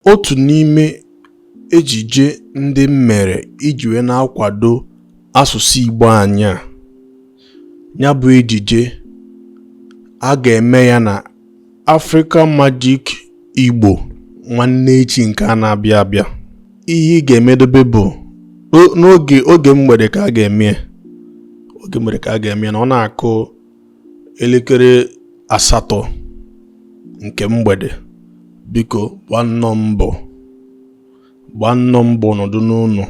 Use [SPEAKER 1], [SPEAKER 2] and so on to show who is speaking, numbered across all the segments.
[SPEAKER 1] Otu n'ime ejije ndị m mere iji wee na-akwado asụsụ Igbo anyị a ya bụ ejije a ga-eme ya na Africa Magic Igbo nwanne echi nke a na-abịa abịa ihe ị ga-emedobe bụ n'oge oge mgbede ka a ga-eme oge mgbede ka a ga-eme na ọ na-akụ elekere asatọ nke mgbede biko gbannọ mbọ gbannọ mbọ nọdụ n'ụlọ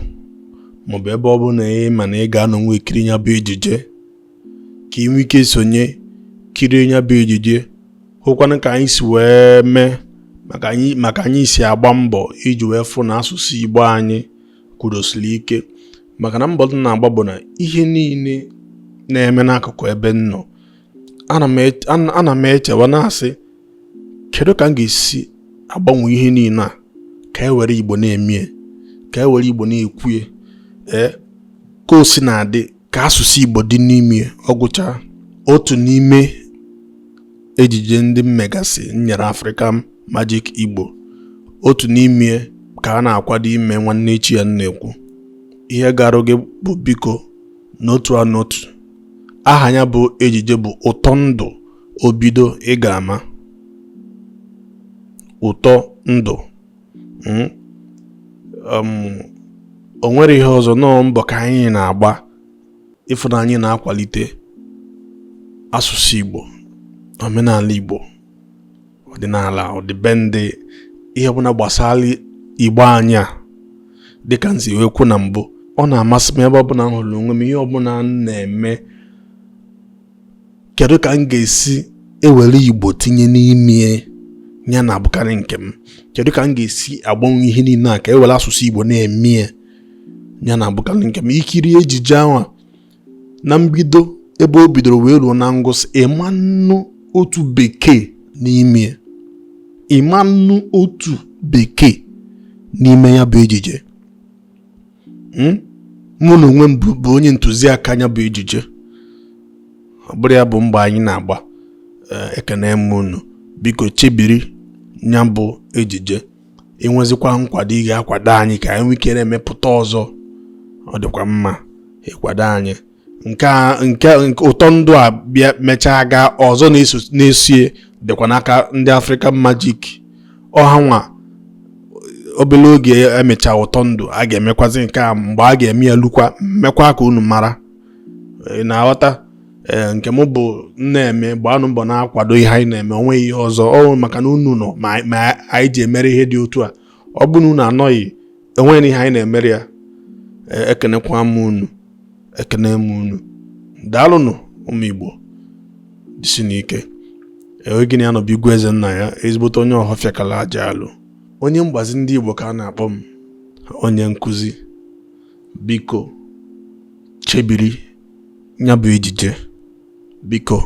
[SPEAKER 1] maọbụ ebe ọ bụna ị ma na ị ga-anọ wee kirie ya bụ ejije ka ị nwee ike sonye kirie ya bụ ejije hụkwanụ ka anyị si wee mee ma ka anyị si agba mbọ iji wee fụ na asụsụ Igbo anyị kwudosiri ike maka na mbọ m na-agba bụ na ihe niile na-eme n'akụkụ ebe m nọ ana m echewa na-asị kedu ka m ga-esi agbanwe ihe niile a ka e were igbo na-emie ka e were igbo na-ekwue ee eh, ka o si na-adị ka asụsụ igbo dị n'ime ọ gwụcha otu n'ime ejije ndị m megasị nyere Africa Magic Igbo otu n'ime ka a na-akwado ime nwanne echi a m na-ekwu ihe m ga-arịọ gị bụ biko n'otu a n'otu aha ya bụ ejije bụ ụtọ ndụ o bido ị ga-ama ụtọ ndụ hmm? um, o nwere ihe ọzọ nnọọ mbọ ka anyị na-agba ịfụ na anyị na-akwalite asụsụ Igbo omenala Igbo ọdịnala ọdịbendị ihe ọbụla gbasara igbo anyị a dịka m si wee kwu na mbụ ọ na-amasị m ebe ọbụla m hụrụ onwe m ihe ọbụla m na-eme kedu ka m ga-esi ewere igbo tinye n'ime ya na-abụkarị nke m kedu ka m ga-esi agbanwe ihe niile a ka ewere asụsụ igbo na-eme ya na-abụkarị nke m i kirie ejije ahụ na mbido ebe o bidoro wee ruo na ngwụsị ị ma-anụ otu bekee n'ime ya ị ma-anụ otu bekee n'ime ya bụ ejije hmm? mụ na onwe m bụ onye ntụziaka ya bụ ejije ọ bụrụ ya bụ mbọ anyị na-agba eh, ekene m unu biko chebiri ya bụ ejije i nwezikwa nkwado ị ga-akwado anyị ka anyị nwee ike na-emepụta ọzọ ọ dịkwa mma ịkwado anyị nke ụtọ ndụ a bịa mechaa gaa ọzọ na-esie dịkwa n'aka ndị African Magic ọ ha nwa obere oge e mechaa ụtọ ndụ a ga-emekwazi nke a mgbe a ga-eme ya lukwa m mekwaa ka unu mara ị na-aghọta ee nke m bụ na-eme gbaanụ mbọ na-akwado ihe anyị na-eme o nweghị ihe ọzọ ọ maka na unu nọ ma anyị ji emere ihe dị otu a ọ bụ na unu anọghị enweghị ihe anyị na-emere ya e, ekenekwa m unu ekene m unu daalụnụ ụmụ Igbo jisinụ ike onye gị na ya nọ bụ Igwe Ezennaya ezigbote onye ọhọfịa kala aja alụ onye mgbazi ndị Igbo ka a na-akpọ m onye nkụzi biko chebiri ya bụ ejije biko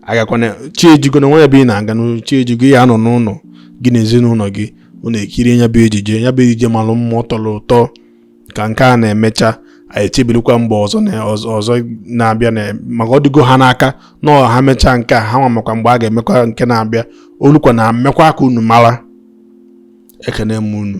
[SPEAKER 1] agakwana chi ejigo na o nweghị ebe ị na-aga na chi ejigo ya anọ n'ụlọ gị na ezinụlọ gị unu ekirie ya bụ ejije ya bụ ejije malụ mma tọlụ ụtọ ka nke a na-emecha anyị echebirikwa mgbe ọzọ na-abịa maka ọ dịgo ha n'aka na ha mechaa nke a ha nwa makwa mgbe a ga-emekwa nke na-abịa o lukwa na m mekwaa ka unu mara ekene m unu